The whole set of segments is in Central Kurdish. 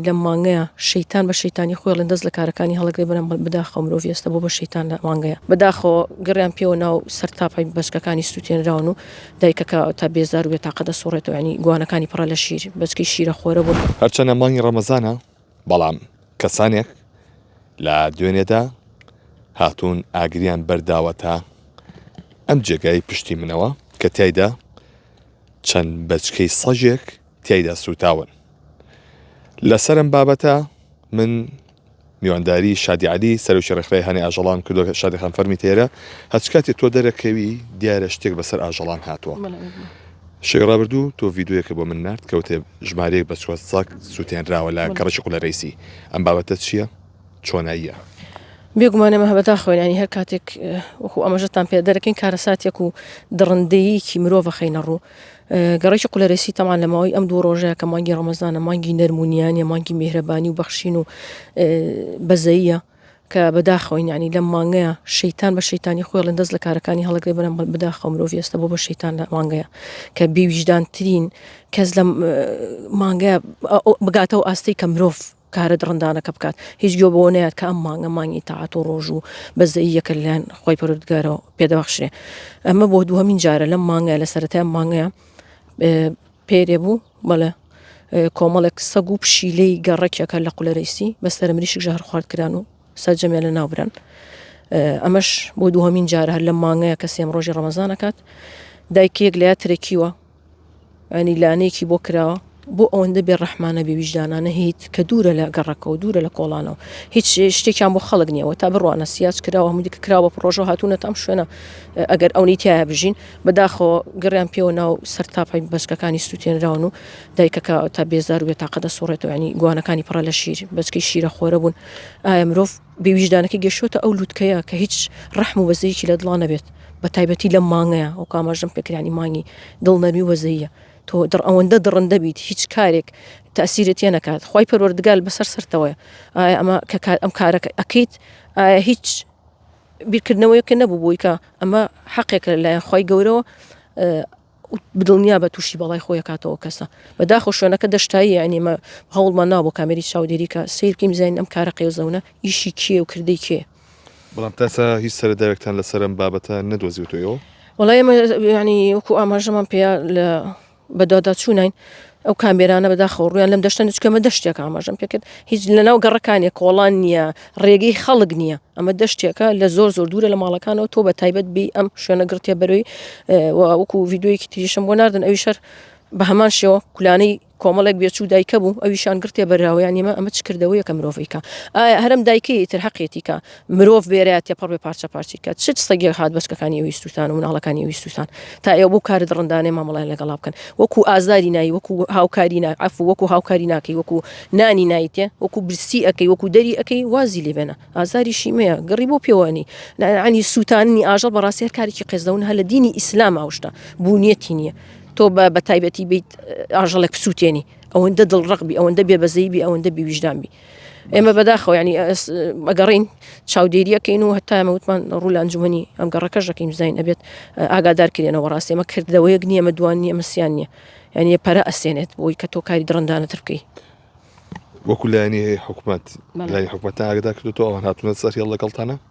لەم مانگەیا شەیتان بە شەیتانی خۆی ئەڵێن دەست لە کارەکانی هەڵەگرێ بەرام بەداخەوە مرۆڤی ئێستا بۆ بە شەیتان لە مانگەیا. بەداخەوە گەڕیان پێوە ناو سەر تاپای بەچکەکانی سوتێنراون و دایکەکە تا بێزار و بێ تاقەت ئەسوڕێتەوە یانی گوانەکانی پڕە لە شیر بەچکەی شیرە خۆرە بوون. هەرچەنە مانگی ڕەمەزانە بەڵام کەسانێک لە دوێنێدا هاتوون ئاگریان بەرداوەتە ئەم جێگای پشتی منەوە کە تیایدا چەند بەچکەی سەگێک تیایدا سووتاون. لەسەر ئەم بابەتە من میوانداری شادی عەلی سەرۆکی ڕێکخراوی ئاژەڵان کردو شادی خان فەرمی تێرە هەچ کاتێ تۆ دەرەکەوی دیارە شتێک بەسەر ئاژەڵان هاتووە شەوی ڕابردوو تۆ ڤیددیوەکە بۆ من نرد کەوتێ ژمارەیەک بە چوە ساک سووتێنراوە لە گەڕشی قلە رئیسی ئەم بابەتە چییە چۆناییە بێگومانەمە هەبەتا خوێنانی هەر کاتێک وەکو ئەمەژەتان پێ دەرەکەین کارەساتێک و دڕندەیەکی مرۆڤ خەینە ڕوو گەڕەکی قولەرەسی تەمان لە ماوەی ئەم دوو ڕۆژەیە کە مانگی ڕەمەزانە مانگی نەرم و نیانە مانگی میهرەبانی و بەخشین و بەزەیە کە بەداخەوەین ینی لەم مانگەیە شەیتان بە شەیتانی خۆڵن دەست لە کارەکانی هەڵگرێ بەرم بداخە مرۆڤ ئێستا بۆ بە شەیتان لە مانگەیە کە بێویژدانترین کەس لە مانگە بگاتەوە ئاستی کە مرۆڤ کارە دڕندانەکە بکات، هیچ گوێ بەوە نەیات کە ئەم مانگە مانگی تاعەت و ڕۆژ و بەزەییەکە لەلایەن خوای پەروەردگارەوە پێدەبەخشرێ. ئەمە بۆ دووهەمین جارە لەم مانگە لە سەرەتای ئەم مانگەیە پێرێ بوو بەڵێ کۆمەڵێک سەگ و پشیلەی گەڕەکیەکە لە قولەرەیسی بەسەر مریشک ژەهر خوارد کران و سەرجەمیان لە ناوبران ئەمەش بۆ دووهمین جار هەر لە مانگەیە کە سێم ڕۆژی ڕەمەزانەکات دایکێک لە ترەکیوە ینی لانەیەکی بۆ کراوە بۆ ئەوەندە بێ ڕەحمانە بێ ویژدانانە هیت کە دوورە لە گەڕەکەەوە دوورە لە کۆڵانەوە هیچ شتێکیان بۆ خەڵک نیەوە تا بڕوانە سیاج کراوە هەمودی کراوە پرۆژە هاتوونە تام شوێنە ئەگەر ئەونی تایە بژین بەداخەوە گەڕیان پێوە ناو سەر تاپی بەچکەکانی سووتێنراون و دایکەکە تا بێزار و بێتاقە دەسوڕێتەوە ینی گوانەکانی پڕە لە شیر بەچکەی شیرە خۆرە بوون ئایا مرۆڤ بێ ویژدانەکە گەشتۆتە ئەو لوتکەیە کە هیچ ڕەحم و وەزەیەکی لە دڵا نەبێت بە تایبەتی لەم مانگەیە ئەو کاماژەم پێکرانی مانگی دڵ نەرمی وەزەیە تۆ دڕ ئەوەندە دڕندە بیت هیچ کارێک تەسیرت یە نەکات خی پەروەردگال بەسەر سەرتەوەە ئایا ئەمە کە کار ئەم کارەکە ئەکەیت ئایا هیچ بیرکردنەوەیەکە نەبوو بۆی کە ئەمە حەقێکە لایەن خی گەورەوە دڵنیابە توشی بەڵای خۆی کاتەوە کەسە بەداخۆ شوێنەکە دەشتایی یعنیمە هەوڵمان نابوو کامێری چاودێری کە سیر بکەین زین ئەم کارە قێزەونە ئیشی کێ و کردەی کێ بەڵام تاسا هیچ سەرەداوێکتان لەسەر ئەم بابەتە نەدۆزیوتەوە؟ وڵای ئێمە ینی وەکو ئاماژەمان پێیا لە بەداداچوونین ئەو کامێرانە بەداخەوە ڕویان لەم دەشتە نچکە مە دەشتێک ئاماژەم پێکرد هیچ لەناو گەڕەکانێک کۆڵان نییە ڕێگەی خەڵک نییە ئەمە دەشتێکە لە زۆر زۆر دوورە لە ماڵەکانەوە تۆ بە تایبەت بی ئەم شوێنە گرتێ بەروی وەکو ویددیویەکی تریشم بۆ ناردن ئەوی شەر بە هەمان شێوە کولانەی کۆمەڵێک بێچوو دایکە بوو ئەویشان گرتێ بەراوەیان نیمە ئەمە چ کردەوەیەکە مرۆڤیکە ئایا هەرم دایکەیە تر حەقێتیکە مرۆڤ بێرێ تێپەڕ بێ پارچە پارچی کە چ سەگێک هات بەچکەکانی ویستوتان و مناڵەکانی ویستوتان تا ئێوە بۆ کارت ڕندانێ مامەڵیان لەگەڵا بکەن وەکو ئازاری نایی وەکو هاوکاری ناعف وەکو هاوکاری ناکەی وەکو نانی نایتێ وەکو برسی ئەەکەی وەکو دەری ئەەکەی وازی لێبێنە ئازاری شیمەیە گەڕی بۆ پێوانی نانی سووتانی ئاژەڵ بەڕاستی هەر کارێکی قێزەون هە لە دینی ئیسلام ئاوشتا بوونیەتی نییە تۆ بە بە تایبەتی بیت ئاژەڵێک بسووتێنی ئەوەندە دڵڕقبی ئەوەندە بێبەزەیبی ئەوەندە بیویژدانبی ئێمە بەداخەوە ینی ئەگەڕین چاودێریەکەین و هەتایمە وتمان ڕوو لە ئەنجومی ئەم گەڕەکەش دەکەین زین ئەبێت ئاگادار کرێنەوە ڕاستێ ئمە کردەوەیەک نییە مە دووان نییە مسیان نییە یعنی پەرە ئەسێنێت بۆی کە تۆ کاری دڕندانە ترکەی وەکو لایانی حکوومەت لای حکوومەت ئاگدا کردو ئەوان هاتوونە سەر هێڵ لەگەڵتانە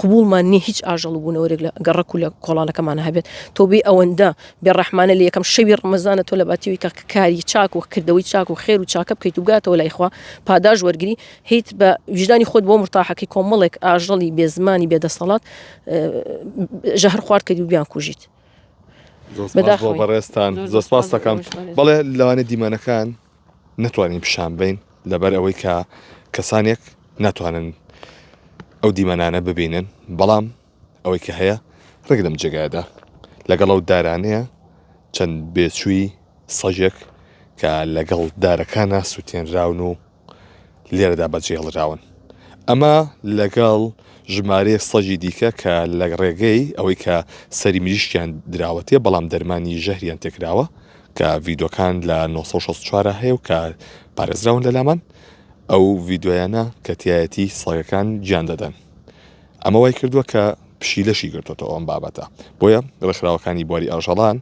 قبوڵمان نیە هیچ ئاژەڵ و بونەوەرێک لە گەڕەک و لە کۆڵانەکەمانا هەبێت، تۆبەی ئەوەندە بێ ڕەحمانە لە یەکەم شەوی ڕەمەزانە تۆ لەباتی ئەوی کە کاری چاک و کردەوەی چاک و خێر و چاکە بکەیت و بگاتەوە لای خوا پاداش وەرگری هیت بە ویژدانی خۆت بۆ مورتاحەکەی کۆمەڵێک ئاژەڵی بێ زمانی بێ دەسەڵات ژەهر خوارد کەیت و بیان کوژیت بەداخەوەی. بەڕێزتان زۆر سپاس دەکەم بەڵێ لەوانێ دیمەنەکان نەتوانین پیشان بەین لەبەر ئەوەی کە کەسانێک ناتوانن ئەو دیمەنانە ببینن بەڵام ئەوەی کە هەیە ڕێک لەم جێگایدا لەگەڵ ئەو دارانەیە چەند بێچووی سەژێک کە لەگەڵ دارەکانە سووتێنراون و لێرەدا بەجێڵراون ئەمە لەگەڵ ژمارەیە سەژی دیکە کە لە ڕێگەی ئەوەی کە سەری مریشکیان دراوەتێ بەڵام دەرمانی ژەهریان تێکراوە کە ڤیدۆکان لە نۆ سەد و شەست و چوار هەیە و کە پارێزراون لە لامان ئەو ڤیدۆیانە کە تیایەتی سەگەکان گیان دەدەن ئەمە وای کردووە کە پشیلەشی گرتۆتە ئەم بابەتە بۆیە ڕێکخراوەکانی بواری ئاژەڵان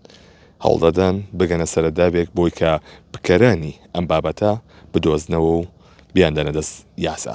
هەوڵدەدەن بگەنە سەرەداوێک بۆی کە بکەرانی ئەم بابەتە بدۆزنەوە و بیان دەنە دەست یاسا.